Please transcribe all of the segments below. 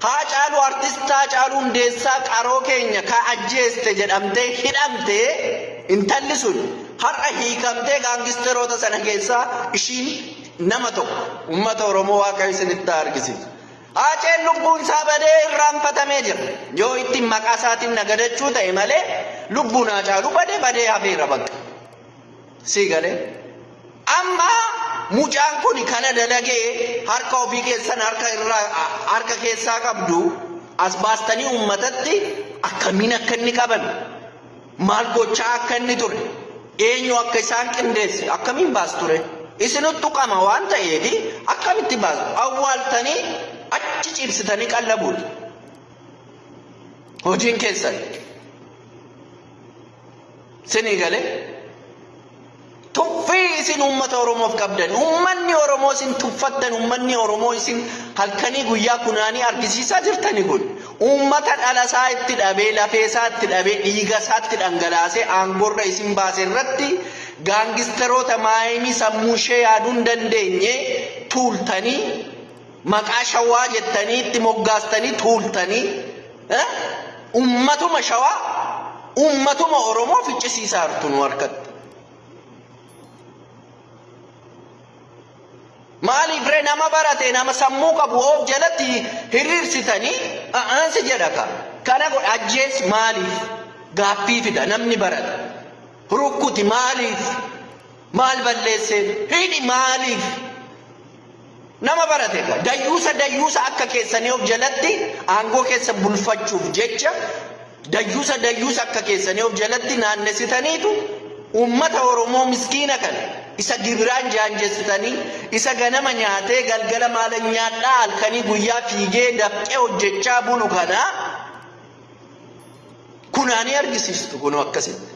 Haacaaluu Artist Haacaaluu Hundeessaa qaroo keenya ka ajjeeste jedhamtee hidhamte intalli sun har'a hiikamtee gaangisteroota sana keessaa ishiin nama tokko uummata Oromoo Waaqayyo isinitti haa argisiisu. Haaceen lubbuun isaa badee irraanfatamee jira. Yoo ittiin maqaa isaatiin nagadachuu ta'e malee lubbuun Haacaaluu badee badee hafeera bakka. Sii galee? Amma mucaan kun kana dalagee harka ofii keessan harka irraa harka keessaa qabdu as baastanii uummatatti akkamiin akka inni qaban maal gochaa akka inni ture eenyu akka isaan qindeesse akkamiin baas ture isinuttu qama waan ta'eef akkamitti baas awwaaltanii achi ciibsitanii qallabuudha hojiin keessan. Sinii galee tuffii isin uummata Oromoof qabdan uummanni Oromoo isin tuffattan uummanni Oromoo isin halkanii guyyaa kunaanii argisiisaa jirtani kun uummata dhalasaa itti dhabee lafeesaa itti dhabee dhiigasaa itti dhangalaasee aangorra isin baase irratti gaangistaroota maayimii sammuu ishee yaaduu hin dandeenye tuultanii Maqaa shawaa jettanii itti moggaastanii tuultanii ummatuma shawaa ummatuma Oromoo ficcisiisaa jirtu nu harkatti. Maaliif ree nama barate nama sammuu qabu of jalatti hiriirsitanii aansi jedha ka. Kana godha ajjees maaliif gaaffii fida namni barate. Rukkuti maaliif maal balleesseen hidhi maaliif. Nama barate ga dayyuusa dayyuusa akka keessanii of jalatti aangoo keessa bulfachuuf jecha dayyuusa dayyuusa akka keessanii of jalatti naannessitaniitu uummata Oromoo miskiina kana isa gibiraan jaanjessitanii isa ganama nyaatee galgala maala nyaadhaa halkanii guyyaa fiigee dafqee hojjechaa bulu kana kunaanii argisiistu kunoo akkasitti.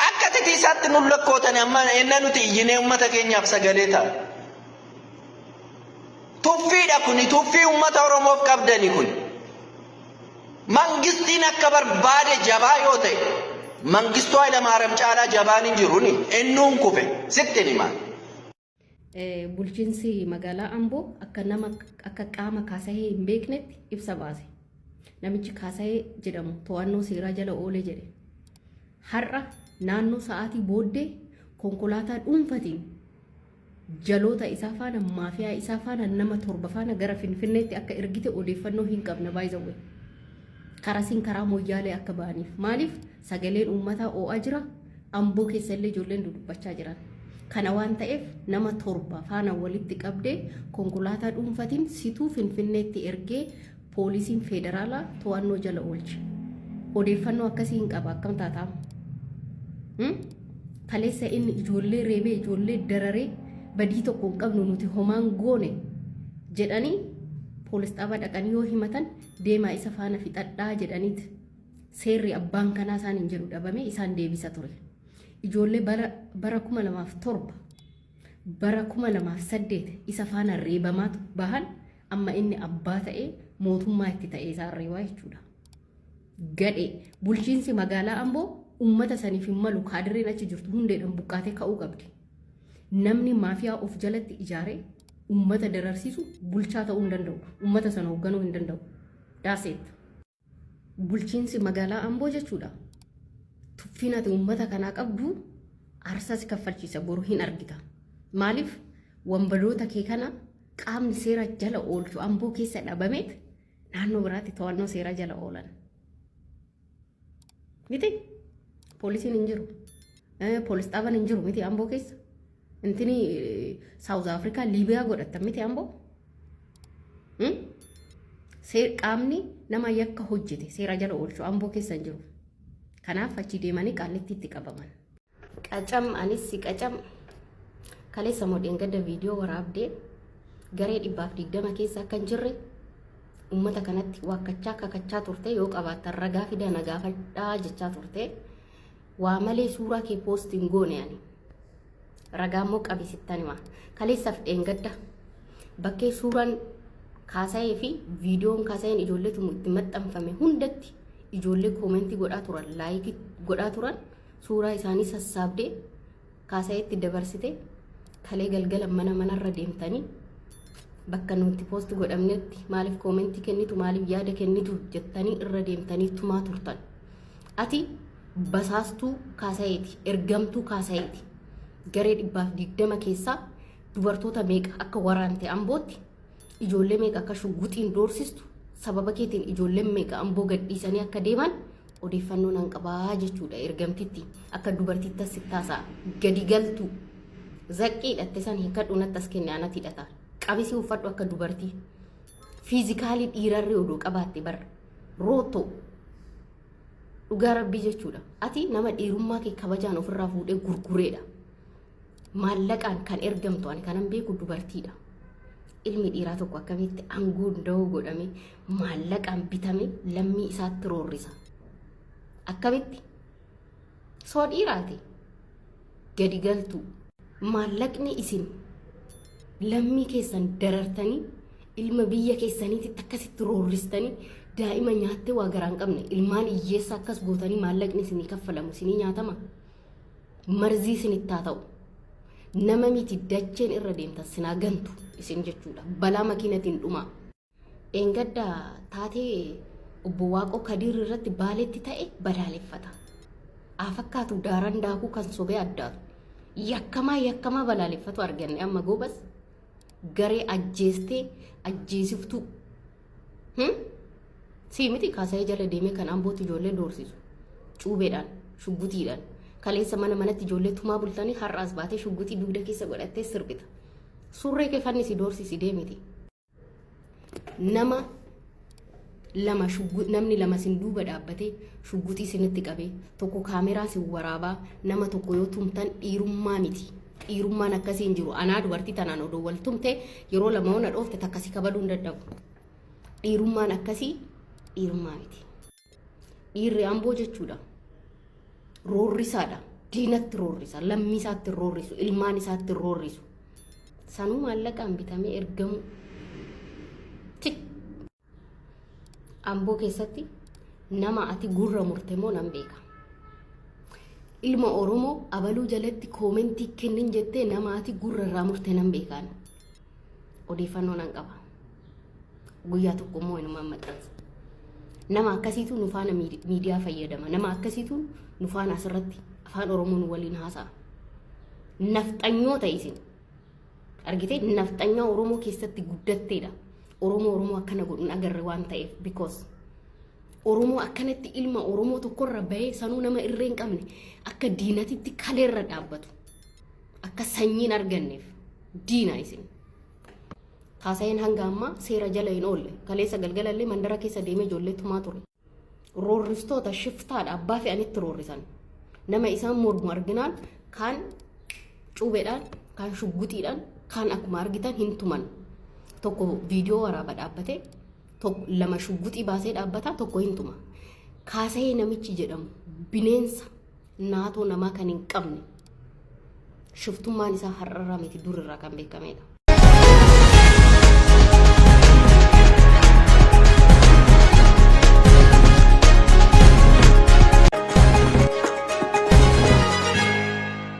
Akka titiisaatti nun lakkootani amma ennaa nuti iyyinee uummata keenyaaf sagalee ta'a. Tuffiidha kuni tuffii uummata Oromoof qabdani kun. Mangistiin akka barbaade jabaa yoo ta'e mangistuu Hayilamaariyaam caalaa jabaan hin jiru ni ennuun kufe sitti himaa. Bulchiinsi magaalaa Amboo akka nama akka qaama kaasahee hin beeknetti ibsa baase. Namichi kaasahee jedhamu to'annoo seeraa jala oole jedhe. Har'a naannoo sa'aatii booddee konkolaataa dhuunfatiin jaloota isaa faana maafiyaa isaa faana nama torba faana gara Finfinneetti akka ergite odeeffannoo hin qabna baay'ee karaa siin karaa moyyaalee akka ba'aniif maaliif Sagaleen uummataa oo'aa jira. Amboo keessa illee ijoolleen dudubbachaa jiran. Kana waan ta'eef nama torba faana walitti qabdee konkolaataa dhuunfatiin situu Finfinneetti ergee poolisiin federaalaa to'annoo jala oolche. Odeeffannoo akkasii hin qaba akkam taataam. Hmm? Kaleessa inni ijoollee reebee ijoollee dararee badii tokko hin qabnu nuti homaan goone jedhanii poolis dhaabaa dhaqanii yoo himatan deemaa isa faana fixadhaa jedhaniiti. seerri abbaan kanaa isaan hin jedhu dhabame isaan deebisa ture. Ijoollee bara bara kuma lamaaf torba bara kuma lamaaf saddeet isa faana reebamaa bahan amma inni abbaa ta'ee mootummaa itti ta'ee isaan reebaa jechuudha. Gadhee bulchiinsi magaalaa Amboo uummata saniif hin malu kaadireen achi jirtu hundeedhaan buqqaatee ka'uu qabdi. Namni maafiyaa of jalatti ijaaree uummata dararsiisu bulchaa ta'uu hin danda'u. Uummata sana hoogganuu hin danda'u. Daaseetta. Bulchiinsi magaalaa Amboo jechuudha. Tuffiin ati uummata kanaa qabdu aarsaa si kaffalchiisa boru hin argita. Maaliif wanbaloota kee kana qaamni seera jala oolchu Amboo keessa dhabameet naannoo biraatti to'annoo seera jala oolan. Miti poolisiin hin jiru. Poolis dhaaban hin jiru miti Amboo keessa. Intini South Africa Libya godhattan miti ambo. Hmm? Seer qaamni nama yakka hojjete seera jala oolchu amboo keessa hin jiru. Kanaaf achi deemanii qaallitti itti qabaman. Qacam anis si qacam kaleessa modheen gadda viidiyoo waraabdee garee dhibbaaf digdama keessa akka hin jirre uummata kanatti waakkachaa kakachaa turte yoo qabaattan ragaa fidaa na gaafadhaa jechaa turte. Waa malee suuraa kee post hin goone ani. Ragaa immoo qabi sittan hima. Kaleessaaf dheengadda bakkee suuraan kaasa'ee fi viidiyoon kaasa'een ijoollee tumu itti maxxanfame hundatti ijoollee koomentii godhaa turan laayikii godhaa turan suuraa isaanii sassaabdee Kaasayeetti dabarsite kalee galgala mana manarra deemtanii bakka nuti poosti godhamnetti maaliif koomentii kennitu maaliif yaada kennitu jettanii irra deemtanii tumaa turtan. Ati basaastuu kaasayeeti ergamtuu kaasayeeti garee dhibbaaf digdama keessaa dubartoota meeqa akka waraante ambootti ijoollee meeqa akka shugguxiin doorsistu sababa keetiin ijoolleen meeqa amboo gadhiisanii akka deeman Odeeffannoo nan qabaa jechuudha ergamtitti akka dubartiittas sittaasa gadi galtu zaqqii hidhatte san hiikadhu natti as kenne anatti hidhata qabisii uffadhu akka dubartii fiizikaalii dhiirarri oduu qabaatte bar rootoo dhugaa rabbii jechuudha ati nama dhiirummaa kee kabajaan ofirraa fuudhee gurgureedha maallaqaan kan ergamtu ani kanan beeku dubartiidha ilmi dhiiraa tokko akkamitti aangoo da'oo godhame maallaqaan bitame lammii isaatti roorrisa. Akkamitti? Soo dhiiraati. Gadi galtuu. Maallaqni isin lammii keessan darartanii ilma biyya keessaniitti akkasitti roorristanii daa'ima nyaattee waa garaa hin qabne ilmaan hiyyeessa akkas gootanii maallaqni isinii kaffalamu isinii nyaatama. Marzii isinitti haa ta'u. Nama miti dacheen irra deemtan sinaa gantu isin jechuudha. Balaa makiinatiin dhumaa. Dheengadda taatee obbo Waaqoo Kadiir irratti baaletti ta'e balaaleffata. Haa fakkaatu daaran daakuu kan sobee addaatu. Yakkamaa yakkamaa balaaleffatu arganne amma goobas garee ajjeestee ajjeesiftuu. Hmm? Sii miti kaasa'ee jala deemee kan ambootti ijoollee doorsisu. Cuubeedhaan, shuggutiidhaan. Kaleessa mana manatti ijoollee tumaa bultanii har'aas baatee shuggutii dugda keessa godhattee sirbita. Surree kee fannisi doorsisi deemiti. nama lama shuggu- namni lama sin duuba dhaabbatee shugguxii sinitti qabee tokko kaameraa sin waraabaa nama tokko yoo tumtan dhiirummaa miti dhiirummaan akkasii hin jiru anaa dubartii tanaan odoo wal tumte yeroo lama ona dhoofte takka si kabaluu hin dadhabu dhiirummaan akkasii dhiirummaa miti. Dhiirri amboo jechuudha. Roorrisaadha. Diinatti roorrisa. Lammii isaatti roorrisu. Ilmaan isaatti roorrisu. Sanuu maallaqaan bitamee ergamu. Tik. Amboo keessatti nama ati gurra murte moo nan beeka. Ilma Oromoo abaluu jalatti koomentii kennin jettee nama ati gurra irraa murte nan beekaan. Odeeffannoo nan qaba. Guyyaa tokko immoo inumaan maxxansa. Nama akkasiitu nu faana miidi- miidiyaa fayyadama. Nama akkasiitu nu faana asirratti afaan Oromoo nu waliin haasa'a. Nafxanyoota isin. Argitee nafxanyaa Oromoo keessatti guddatteedha. Oromoo Oromoo akkana godhuun agarre waan ta'eef because Oromoo akkanatti ilma Oromoo tokkorra bahee sanuu nama irree hin qabne akka diinatitti kaleerra dhaabbatu. akka sanyiin arganneef diina isin. Kaasayeen hanga ammaa seera jala hin oolle. Kaleessa galgala illee mandara keessa deemee ijoollee tumaa ture. Roorristoota shiftaadha abbaa fe'anitti roorrisan. Nama isaan mormu arginaan kaan cuubeedhaan, kaan shugguxiidhaan, kaan akkuma argitan hin tuman. Tokko viidiyoo waraaba dhaabbatee tokko lama shugguxii baasee dhaabbataa tokko hin tuma. Kaasayee namichi jedhamu bineensa naatoo namaa kan hin qabne shiftummaan isaa har'arraa miti durirraa kan beekamedha.